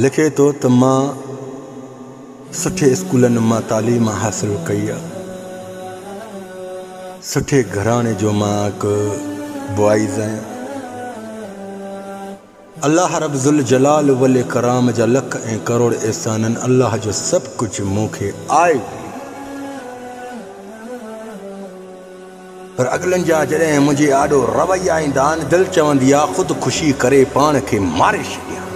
لکي ٿو ته مان سٺي اسڪولن مان تعليم حاصل ڪئي آ سٺي گهراڻي جو مان هڪ بوائز آهيان الله رب ذوالجلال والاڪرام جا لک ۽ ڪروڙ احسانن الله جو سڀ ڪجهه مون کي آئي پر اڳلن جا جڏهن منهنجي آڏو رويا ايندا آهن، دل چوندي آ خود خوشي ڪري پاڻ کي ماري ڇڏيان.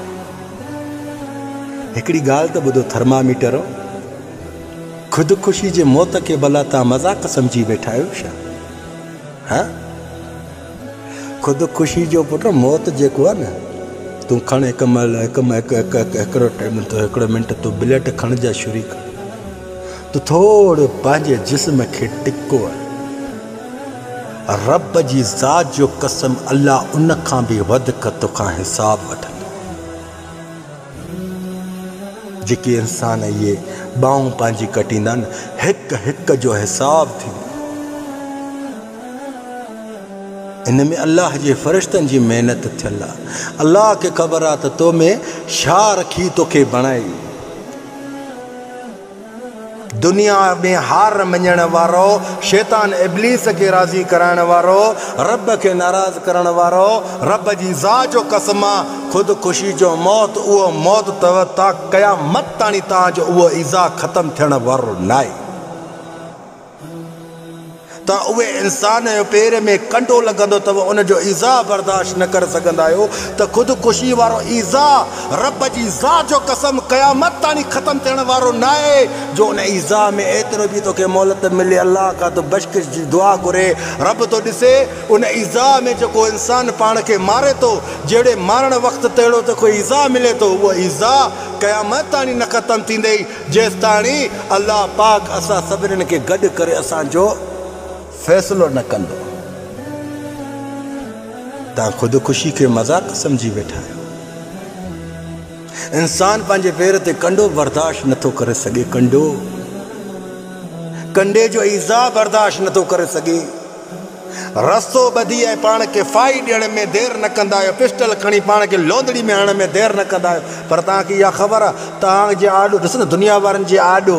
هڪڙي ڳالهه ته ٻڌو ٿرماميٽرو، خود خوشي جي موت کي ڀلا توهان مذاق سمجهي ويٺا آهيو ڇا؟ ها؟ خود خوشي جو پٽ موت جيڪو آ نه، تون کڻ هڪ مهل هڪ هڪ هڪ هڪ هڪڙو منٽ تون بليٽ کڻ جا شريڪ. تو ٿوڙ پنهنجي جسم کي ٽڪو ۽ رب جي ذات جو قسم الله ان کان به وڌڪ توکان حساب وٺندو. جيڪي انسان اهي ٻانهون پنهنجي ڪٽيندا آهن هڪ هڪ جو حساب ٿيندو. ان ۾ الله جي فرشتن جي محنت ٿيل آهي. الله کي خبر آهي ته تو ۾ ڇا رکي توکي بڻائي. دنيا ۾ هار مڃڻ وارو، شيطان ابليس کي راضي ڪرائڻ وارو، رب کي ناراض ڪرڻ وارو، رب جي ذات جو قسم آ خودڪشي جو موت اهو موت تئو تا قيامت تاڻي تان جو اهو ايذاء ختم ٿيڻ وارو ناهي. ته اهي انسان جو پير ۾ ڪنڊو لڳندو ته ان جو ايذاء برداشت نه ڪري سگهندا آهيو ته خود ڪشي وارو ايذاء رب جي ذات جو قسم قيامت تاڻي ختم ٿيڻ وارو ناهي جو ان ايذاء ۾ ايترو به توکي مهلت ملي الله کان تون بشڪش جي دعا گهري رب ٿو ڏسي ان ايذاء ۾ جيڪو انسان پاڻ کي ماري ٿو جهڙي مارڻ وقت تهڙو توکي ايذاء ملي ٿو اهو ايذاء قيامت تاڻي نه ختم ٿيندي جيستاڻي الله پاڪ اسان سڀنن کي گڏ ڪري اسان جو فيصلو نه ڪندو. توهان خود خوشي کي مذاق سمجهي ويٺا آهيو. انسان پنهنجي پير تي ڪنڊو برداشت نٿو ڪري سگهي ڪنڊو ڪنڊي جو ايذاء برداشت نٿو ڪري سگهي. رسو ٻڌي ۽ پاڻ کي ڦاهي ڏيڻ ۾ دير نه ڪندا آهيو، پسٽل کڻي پاڻ کي لونڏڙي ۾ هڻڻ ۾ دير نه ڪندا آهيو، پر توهان کي اها خبر آهي ته آنگ جي آڏو، ڏس نه دنيا وارن جي آڏو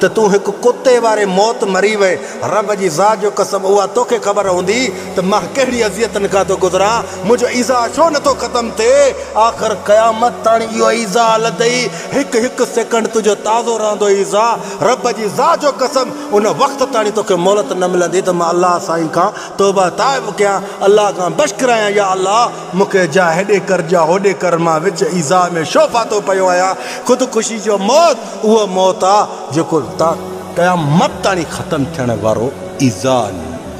ته تون هڪ ڪتي واري موت مري وئين، رب جي ذات جو قسم اها توکي خبر هوندي ته مان ڪهڙي اذيتن کان ٿو گذران، منهنجو ايذاء ڇو نه ٿو ختم ٿئي، آخر قيامت تائين اهو ايذاء لڌئي، هڪ هڪ سيڪنڊ تنهنجو تازو رهندو ايذاء، رب جي ذات جو قسم! ان وقت تاڻي توکي مهلت نه ملندي ته مان الله سائين کان توبه تائب ڪيان، الله کان بخش گهرايان، يا الله! مون کي جا هيڏي ڪر جا هوڏي ڪر، مان وچ ايذاء ۾ شو ڦاٿو پيو آهيان، خود خوشي جو موت اهو موت آ جيڪو تا قيامت تاڻي ختم ٿيڻ وارو ايذاء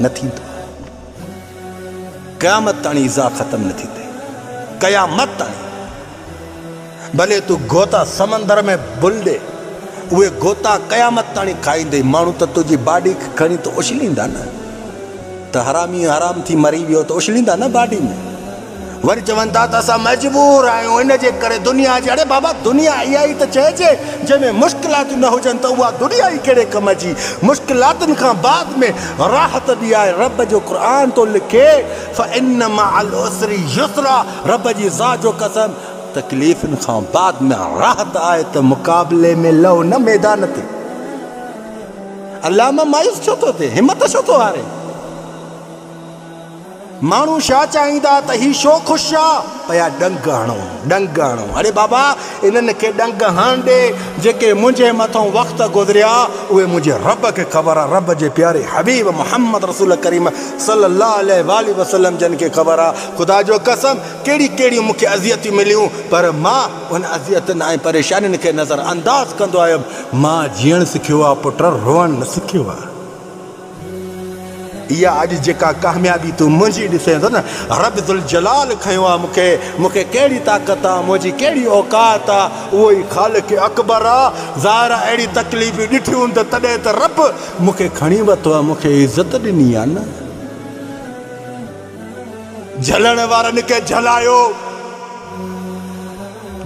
نه ٿيندو، قيامت تاڻي ايذاء ختم نه ٿيندي، قيامت تاڻي. ڀلي تون غوطا سمندر ۾ بلڏي، اهي غوطا قيامت تاڻي کائيندي، ماڻهو ته تنهنجي باڊي کي کڻي ته اڇليندا نه، ته حرامي حرام ٿي مري ويو ته اڇليندا نه باڊي ۾، وري چون ٿا ته اسان مجبور آهيون ان جي ڪري دنيا جي، اڙي بابا دنيا اها ئي ته چئجي، جنهن ۾ مشڪلاتون نه هجن ته اها دنيا ئي ڪهڙي ڪم جي، مشڪلاتن کان بعد ۾ راحت به آهي، رب جو قرآن ٿو لکي فإن مع العسر يسرا، رب جي ذات جو قسم! تڪليفن کان بعد ۾ راحت آهي ته مقابلي ۾ لهو نه ميدان تي علامه مايوس ڇو ٿو ٿئي همت ڇو ٿو هاري ماڻهو شا چاهيندا ته هي شو خوش آ پيا ڏنگ هڻو ڏنگ هڻو اڙي بابا انهن کي ڏنگ هڻ ڏي جيڪي منهنجي مٿو وقت گذريا اهي منهنجي رب کي خبر آ رب جي پياري حبيب محمد رسول ڪريم صلي الله عليه واٰله وسلم جن کي خبر آ خدا جو قسم ڪهڙيون ڪهڙيون مون کي اذيتون مليون پر مان انهن اذيتن ۽ پريشانين کي نظر انداز ڪندو آيم. مان جيئڻ سکيو آ پٽ روئڻ نه سکيو آ. اها اڄ جيڪا ڪاميابي تون منهنجي ڏسين ٿو نه رب ذوالجلال کنيو آ مون کي. مون کي ڪهڙي طاقت آ منهنجي ڪهڙي اوقات آ اهو ئي خالق اڪبر آ. ظاهر آ اهڙيون تڪليفون ڏٺيون هوندين تڏهن ته رب مون کي کڻي ورتو آ مون کي عزت ڏني آ نه. جهلڻ وارن کي جهلايو،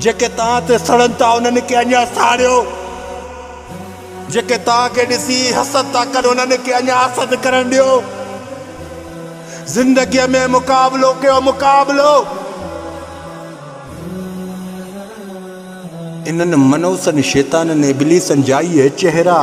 جيڪي توهان تي سڙن ٿا انهن کي اڃا ساڙيو، جيڪي توهان کي ڏسي حسد ٿا ڪن انهن کي اڃا حسد ڪرڻ ڏيو. زندگيء ۾ مقابلو ڪيو، مقابلو! انهن منحوسن شيطانن ابليسن جا اهي چهرا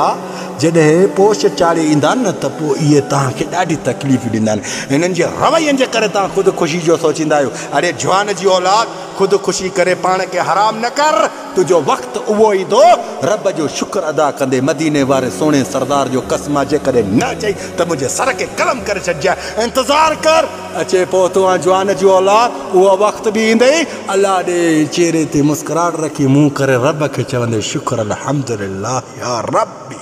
جڏهن پوش چاڙهي ايندا آهن ته پوء اهي توهان کي ڏاڍي تڪليف ڏيندا آهن. انهن جي روين جي ڪري توهان خود خوشي جو سوچيندا آهيو. اڙي جهان جي اولاد! خود خوشي ڪري پاڻ کي حرام نه ڪر. تنهنجو وقت اهو ايندو رب جو شڪر ادا ڪندي. مديني واري سهڻي سردار جو قسم آ جيڪڏهن نه اچئي ته منهنجي سر کي قلم ڪري ڇڏجانء. انتظار ڪر! اچي پوء تون آن جوان جي اولاد، اهو وقت به ايندئي. الله ڏي چهري تي مسڪراهٽ رکي منهن ڪري رب کي چوندي شڪر الحمدلله يا ربي.